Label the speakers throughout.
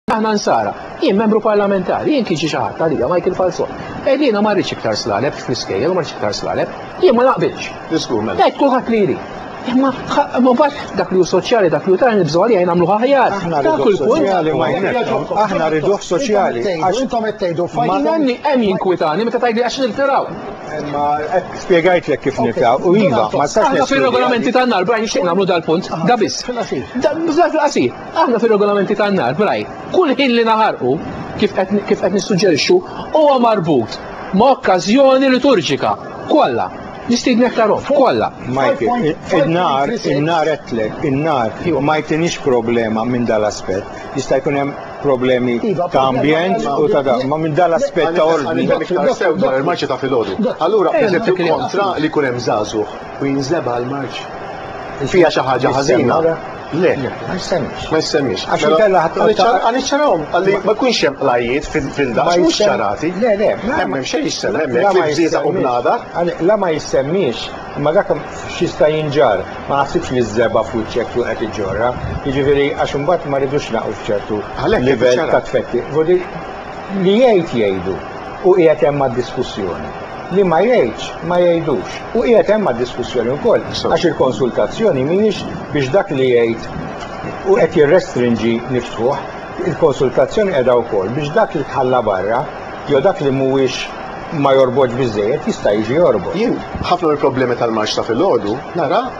Speaker 1: Aħna nsara, jien membru parlamentari, jien kien xi ħadd għalija Michael Falzon. Edina ma rridx iktar slaleb fl-iskejjel, ma rridx iktar slaleb, jien ma naqbilx. Diskur mem. Qed kulħadd li jrid. Imma ma bad dak li hu soċjali dak li hu tara nibżgħu għalija jien nagħmlu aħjar. Aħna rridu soċjali ma jnekkom.
Speaker 2: Aħna rridu soċjali. Għax intom qed tgħidu
Speaker 3: fajn. Ma nanni hemm jinkwitani
Speaker 1: meta tgħidli għax niltiraw. Ma
Speaker 2: spjegajt lek kif niltiraw. U iva, ma sax. Aħna fir-regolamenti tan-nar,
Speaker 1: Brian nixtieq nagħmlu dal-punt, da biss. Da fil-qasir. Aħna fir-regolamenti tan-nar, b'rajt, kull ħin li naħarqu, kif qed nissuġġerixxu, huwa marbut ma' okkażjoni liturġika. Kollha. Nistiednek tarhom. Kollha. Majti,
Speaker 2: in-nar, in-nar għedtlek, in-nar, ma jtinix problema minn dal-aspett. Jista' jkun hemm problemi iva, ta' ambjent u ta' dan, ma minn dal-aspett ta' ordni. Iktar sew dwar il-marċi
Speaker 4: ta' filgħodu. Allura, eżempju kontra li jkun hemm żagħżugħ u jinżebha l-marċ. Fija xi ħaġa ħażina. Le, ma jissemmix.
Speaker 2: Ma jissemmix. Għax mela,
Speaker 4: inkella ħadd għan
Speaker 2: iċċarahom għalli
Speaker 4: ma jkunx hemm qlajiet fil-dax mhux ċarati. Le, le, hemm hemm
Speaker 2: xejn jissemmi
Speaker 4: hemmhekk li bżieta u bnada. La ma
Speaker 2: jissemmix, ma dak x'jista' jinġar, ma naħsibx li żeba f'wiċċek tu qed iġġorra. Jiġifieri għax imbagħad ma rridux naqgħu f'ċertu livell ta' tfetti. Li jgħid jgħidu u qiegħed hemm għad-diskussjoni. Li ma jgħidx, ma jgħidux. U qiegħed hemm għad-diskussjoni wkoll, għax il-konsultazzjoni mhijiex biex dak li jgħid u qed jirrestrinġi niftħuh. Il-konsultazzjoni qiegħda wkoll biex dak li tħalla barra jew dak li mhuwiex ma jorbotx biżżejjed jista' jiġi jorbot. Jien ħafna mill-problemi
Speaker 4: tal-marċ ta' filgħodu nara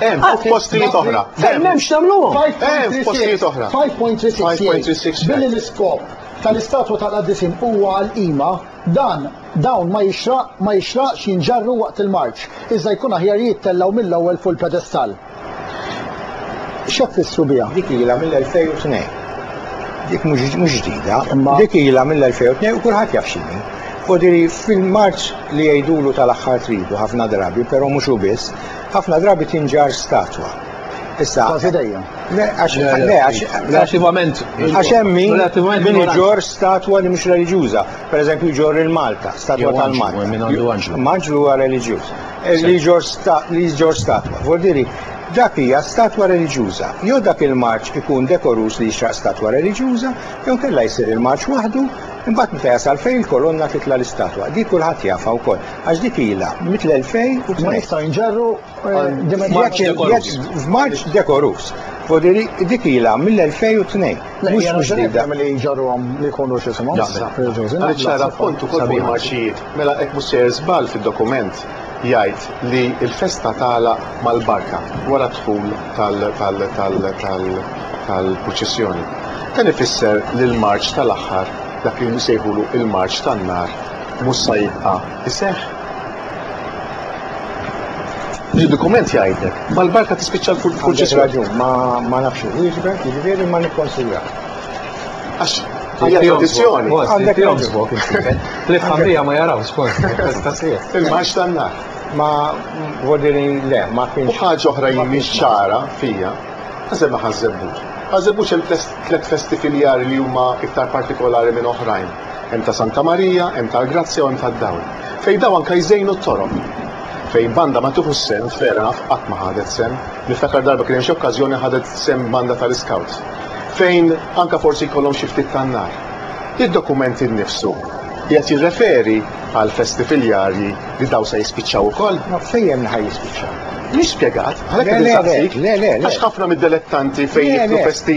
Speaker 1: Hemm fuq
Speaker 4: postijiet oħra. Hemm hemm x'nagħmluhom.
Speaker 1: Hemm
Speaker 4: postijiet oħra. 5.36
Speaker 3: Billi l-iskop tal-istatwa tal-qaddiesin huwa għall-qima, dan dawn ma jixraq ma jixraqx jinġarru waqt il-marċ, iżda jkun aħjar jittellgħu mill-ewwel fuq il-pedestall. X'qed tfissru biha? Dik ilha mill-2002.
Speaker 2: Dik mhux ġdida. Dik ilha mill-2002 u kulħadd jaf x'inhi. Ħodiri fil-marċ li jgħidulu tal-aħħar tridu ħafna drabi, però mhux hu biss, Ħafna drabi tinġarr statwa. Issa. Kważi dejjem. Le, għax. Le, għax.
Speaker 1: Relativament. Għax hemmi.
Speaker 2: Relativament. Min iġor statwa li mhux reliġjuża. Per eżempju, iġor il-Malta, statwa tal-Malta. Minn għandu għanġlu. Maġlu huwa reliġjuż. Eh, li iġor li iġor statwa. Vordiri, dak hija statwa reliġjuża. Jew dak il-marċ ikun dekorus li jixraq statwa reliġjuża, jew kella jsir il-marċ waħdu, imbagħad meta jasal fejn il-kolonna titla' l-istatwa. Dik kulħadd jafha wkoll. Għax dik ilha mitl-2000 ma jistgħu jinġarru
Speaker 3: eh,
Speaker 2: f'Marċ dekorus. Vodiri, dik ilha mill-2002. Mhux mhux ġdida. Li jġarruhom li
Speaker 3: jkunu x'isimhom. Għaliex nara
Speaker 4: punt ukoll fuq marċijiet. Mela hekk mhux sejjer żball fid-dokument jgħid li l-festa tagħla mal-barka wara dħul tal-proċessjoni. Dan ifisser li l-marċ tal-aħħar dak li nsejħulu il-marċ tan-nar mhux sa jibqa' jseħħ. Id-dokument jgħidlek, mal-barka tispiċċa l-kurċi. Għandek raġun, ma nafx
Speaker 2: wieġbek, jiġifieri ma nikkonsidrak. Għax
Speaker 4: hija tradizzjoni. Għandek jomsbok.
Speaker 1: L-familja ma jarawx kont,
Speaker 4: tastasija. Il-maġ tan-nar. Ma
Speaker 2: vodiri le, ma kienx. U ħaġa oħra jimmi
Speaker 4: ċara fija, għazem ħazzebbuċ. Ħazzebbuċ hemm tliet festi filjari li huma iktar partikolari minn oħrajn. Hemm ta' Santa Marija, hemm tal-Grazzja u hemm tad-Dawl. Fejn daw anke jżejnu t-toroq. Fejn banda ma tieħux sehem, fair enough, qatt ma ħadet sehem. Niftakar darba kien hemm xi okkażjoni ħadet sehem banda tal-iskawts. Fejn anke forsi jkollhom xi ftit tan-nar. Id-dokument innifsu qiegħed jirreferi għal festi filjarji li daw se jispiċċaw ukoll? Ma fejn li ħa
Speaker 2: jispiċċaw? Mhix spjegat,
Speaker 4: għalhekk qed insaqsik. Le, le, le, le. Għax ħafna mid-delettanti fejn jiktbu festi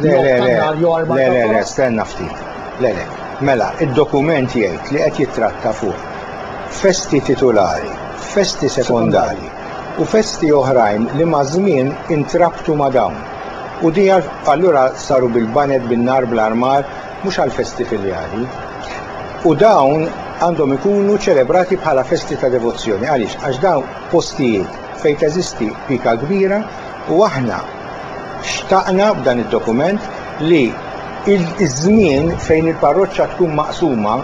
Speaker 3: Le, le, le,
Speaker 2: le, le, le, stenna ftit. Le, le, mela, id-dokument jgħid li qed jittratta fuq festi titulari, festi sekondari u festi oħrajn li maż-żmien intrabtu ma' dawn. U di allura saru bil-baned, bin-nar, bl-armar, mhux għall-festi filjali. U dawn għandhom ikunu ċelebrati bħala festi ta' devozzjoni. Għaliex? Għax dawn postijiet fejn teżisti pika kbira u aħna Xtaqna b'dan id-dokument li ż-żmien fejn il-parroċċa tkun maqsuma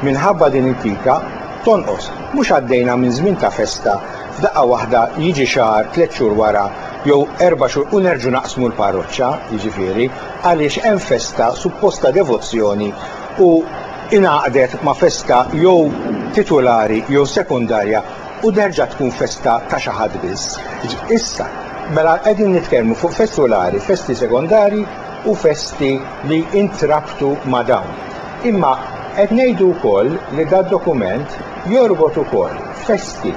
Speaker 2: minħabba din il-pika tonqos. Mhux għaddejna minn żmien ta' festa f'daqqa waħda jiġi xahar, tliet xhur wara jew erba' xhur u nerġgħu naqsmu l-parroċċa, jiġifieri għaliex hemm festa suppost ta' devozzjoni u ingħaqdet ma' festa jew titulari jew sekondarja u terġa' tkun festa ta' xi ħadd biss. Issa, mela qegħdin nitkellmu fuq festi ulari, festi sekondarji u festi li intrabtu ma' dawn. Imma qed ngħidu wkoll li dad-dokument jorbot ukoll festi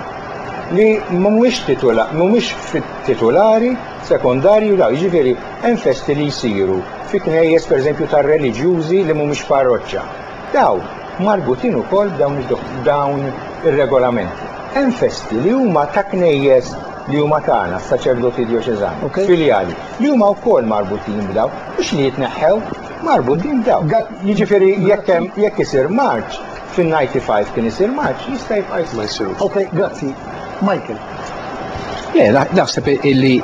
Speaker 2: li mhumiex titula, mhumiex fit-titulari, sekondarji u dawn. Jiġifieri hemm festi li jsiru fi knejjes pereżempju tar-reliġjużi li mhumiex parroċċa. Dawn marbutin ukoll b'dawn ir-regolamenti. Hemm festi li huma ta' knejjes li huma tagħna, s-saċerdoti djoċeżani, filjali, li huma wkoll marbutin b'dawn, mhux li jitneħħew, marbutin b'dawn. Jiġifieri jekk hemm jekk isir marċ, fin-'95 kien isir marċ, jista' jibqa' jsir. Okej, grazzi.
Speaker 3: Michael. Le,
Speaker 1: naħseb illi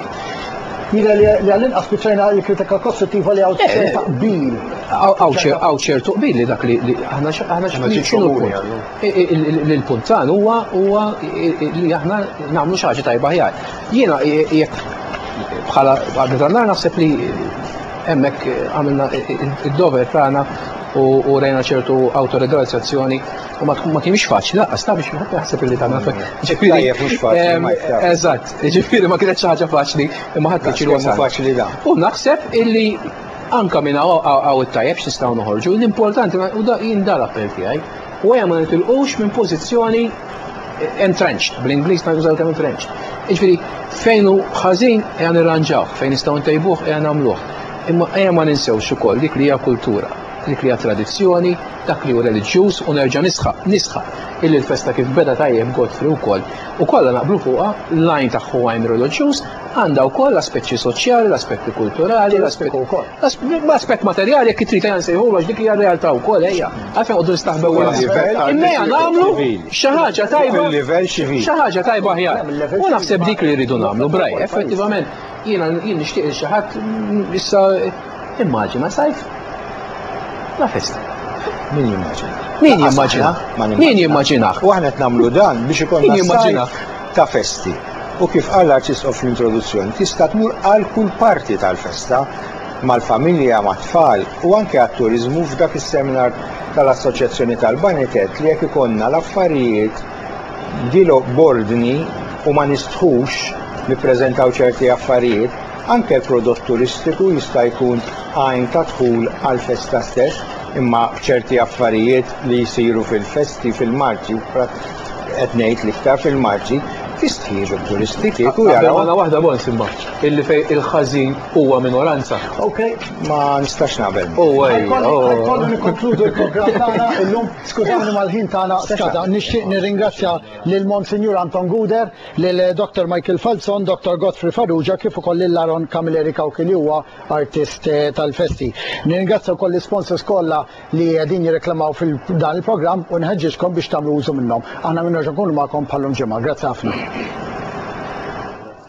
Speaker 1: Jira
Speaker 3: li għall-inqas spiċċajna l-kritika kostruttiva li għaw eh, ta' qbil. Għaw
Speaker 1: ċertu qbil li dak li aħna xinu l-puntan huwa huwa li aħna nagħmlu xi ħaġa tajba ħjar. Jiena jekk bħala għadna naħseb li hemmhekk għamilna id-dover tagħna u rejna ċertu autorizzazzjoni U ma tkun ma kienx faċli, laqqas ta' biex wieħed jaħseb li tagħmel fek. Ġifieri tajjeb mhux faċli. Ehm, eżatt, ġifieri ma kienet xi ħaġa faċli, imma ħadd kien wasal. faċli da. U naħseb illi anka minn hawn it-tajjeb x'nistgħu noħorġu, l-importanti u da jien dar appell tiegħi. U ma nitilqux minn pożizzjoni entrenched, bl-Inglis ma jużaw kemm entrenched. Iġviri, fejn u ħażin għan irranġaw, fejn nistgħu ntejbuh għan għamluħ. Imma għan ma ninsewx ukoll dik li hija kultura. dik li hija tradizzjoni, dak li hu reliġjuż u nerġa' nisħaq, nisħaq, illi l-festa kif beda tajjeb Godfrey wkoll, u kollha naqblu fuqha, l-għajn tagħha hu għajn reliġjuż, għandha wkoll l-aspeċċi soċjali, l-aspetti kulturali, l-aspetti wkoll. L-aspett materjali jekk trid ejja nsejħulu għax dik hija r-realtà wkoll ejja. Għalfejn qogħdu nistaħbew wara l-livell. Imma nagħmlu xi ħaġa tajba. Xi ħaġa tajba aħjar. U naħseb dik li rridu nagħmlu, Brian, effettivament. Jiena jien nixtieq li xi ħadd issa immaġina sajf la festa. Min jimmaġina?
Speaker 2: Min jimmaġina?
Speaker 1: Min jimmaġina? U aħna qed nagħmlu dan
Speaker 2: biex ikun jimmaġina ta' festi. U kif qal l-arċisqof fl-introduzzjoni, tista' tmur għal kull parti tal-festa mal-familja, mat-tfal u anke għat-turiżmu f'dak is-seminar tal-Assoċjazzjoni tal-Banitet li jekk ikonna l-affarijiet Dilo b'ordni u ma nistħux nippreżentaw ċerti affarijiet, anke l-prodott turistiku jista' jkun għajn ta' dħul għall-festa stess, imma b'ċerti affarijiet li jsiru fil-festi, fil-marċi, qed ngħid l-iktar fil-marċi, jistħieġu t-turisti kieku jaraw. Qabel mala waħda Bons imma,
Speaker 1: illi fejn il-ħażin huwa minoranza. Okay, ma
Speaker 3: nistax
Speaker 2: naqbel. Huwa hija. Ħajkolli
Speaker 3: nikkonkludu l-programm tagħna illum. Skużawni ma l-ħin tagħna skada. Nixtieq nirringrazzja lil Monsinjur Anton Guder, lil Dr. Michael Falzon, Dr. Godfrey Farrugia kif ukoll lil Aaron Camilleri Cauchi li huwa artist eh, tal-festi. Nirringrazzja wkoll l-sponsors kollha li qegħdin jirreklamaw fil-dan il-programm u nħeġġiġkom biex tagħmlu użu minnhom. Aħna minnoġa nkunu magħkom bħallum ġimgħa. Grazzi ħafna.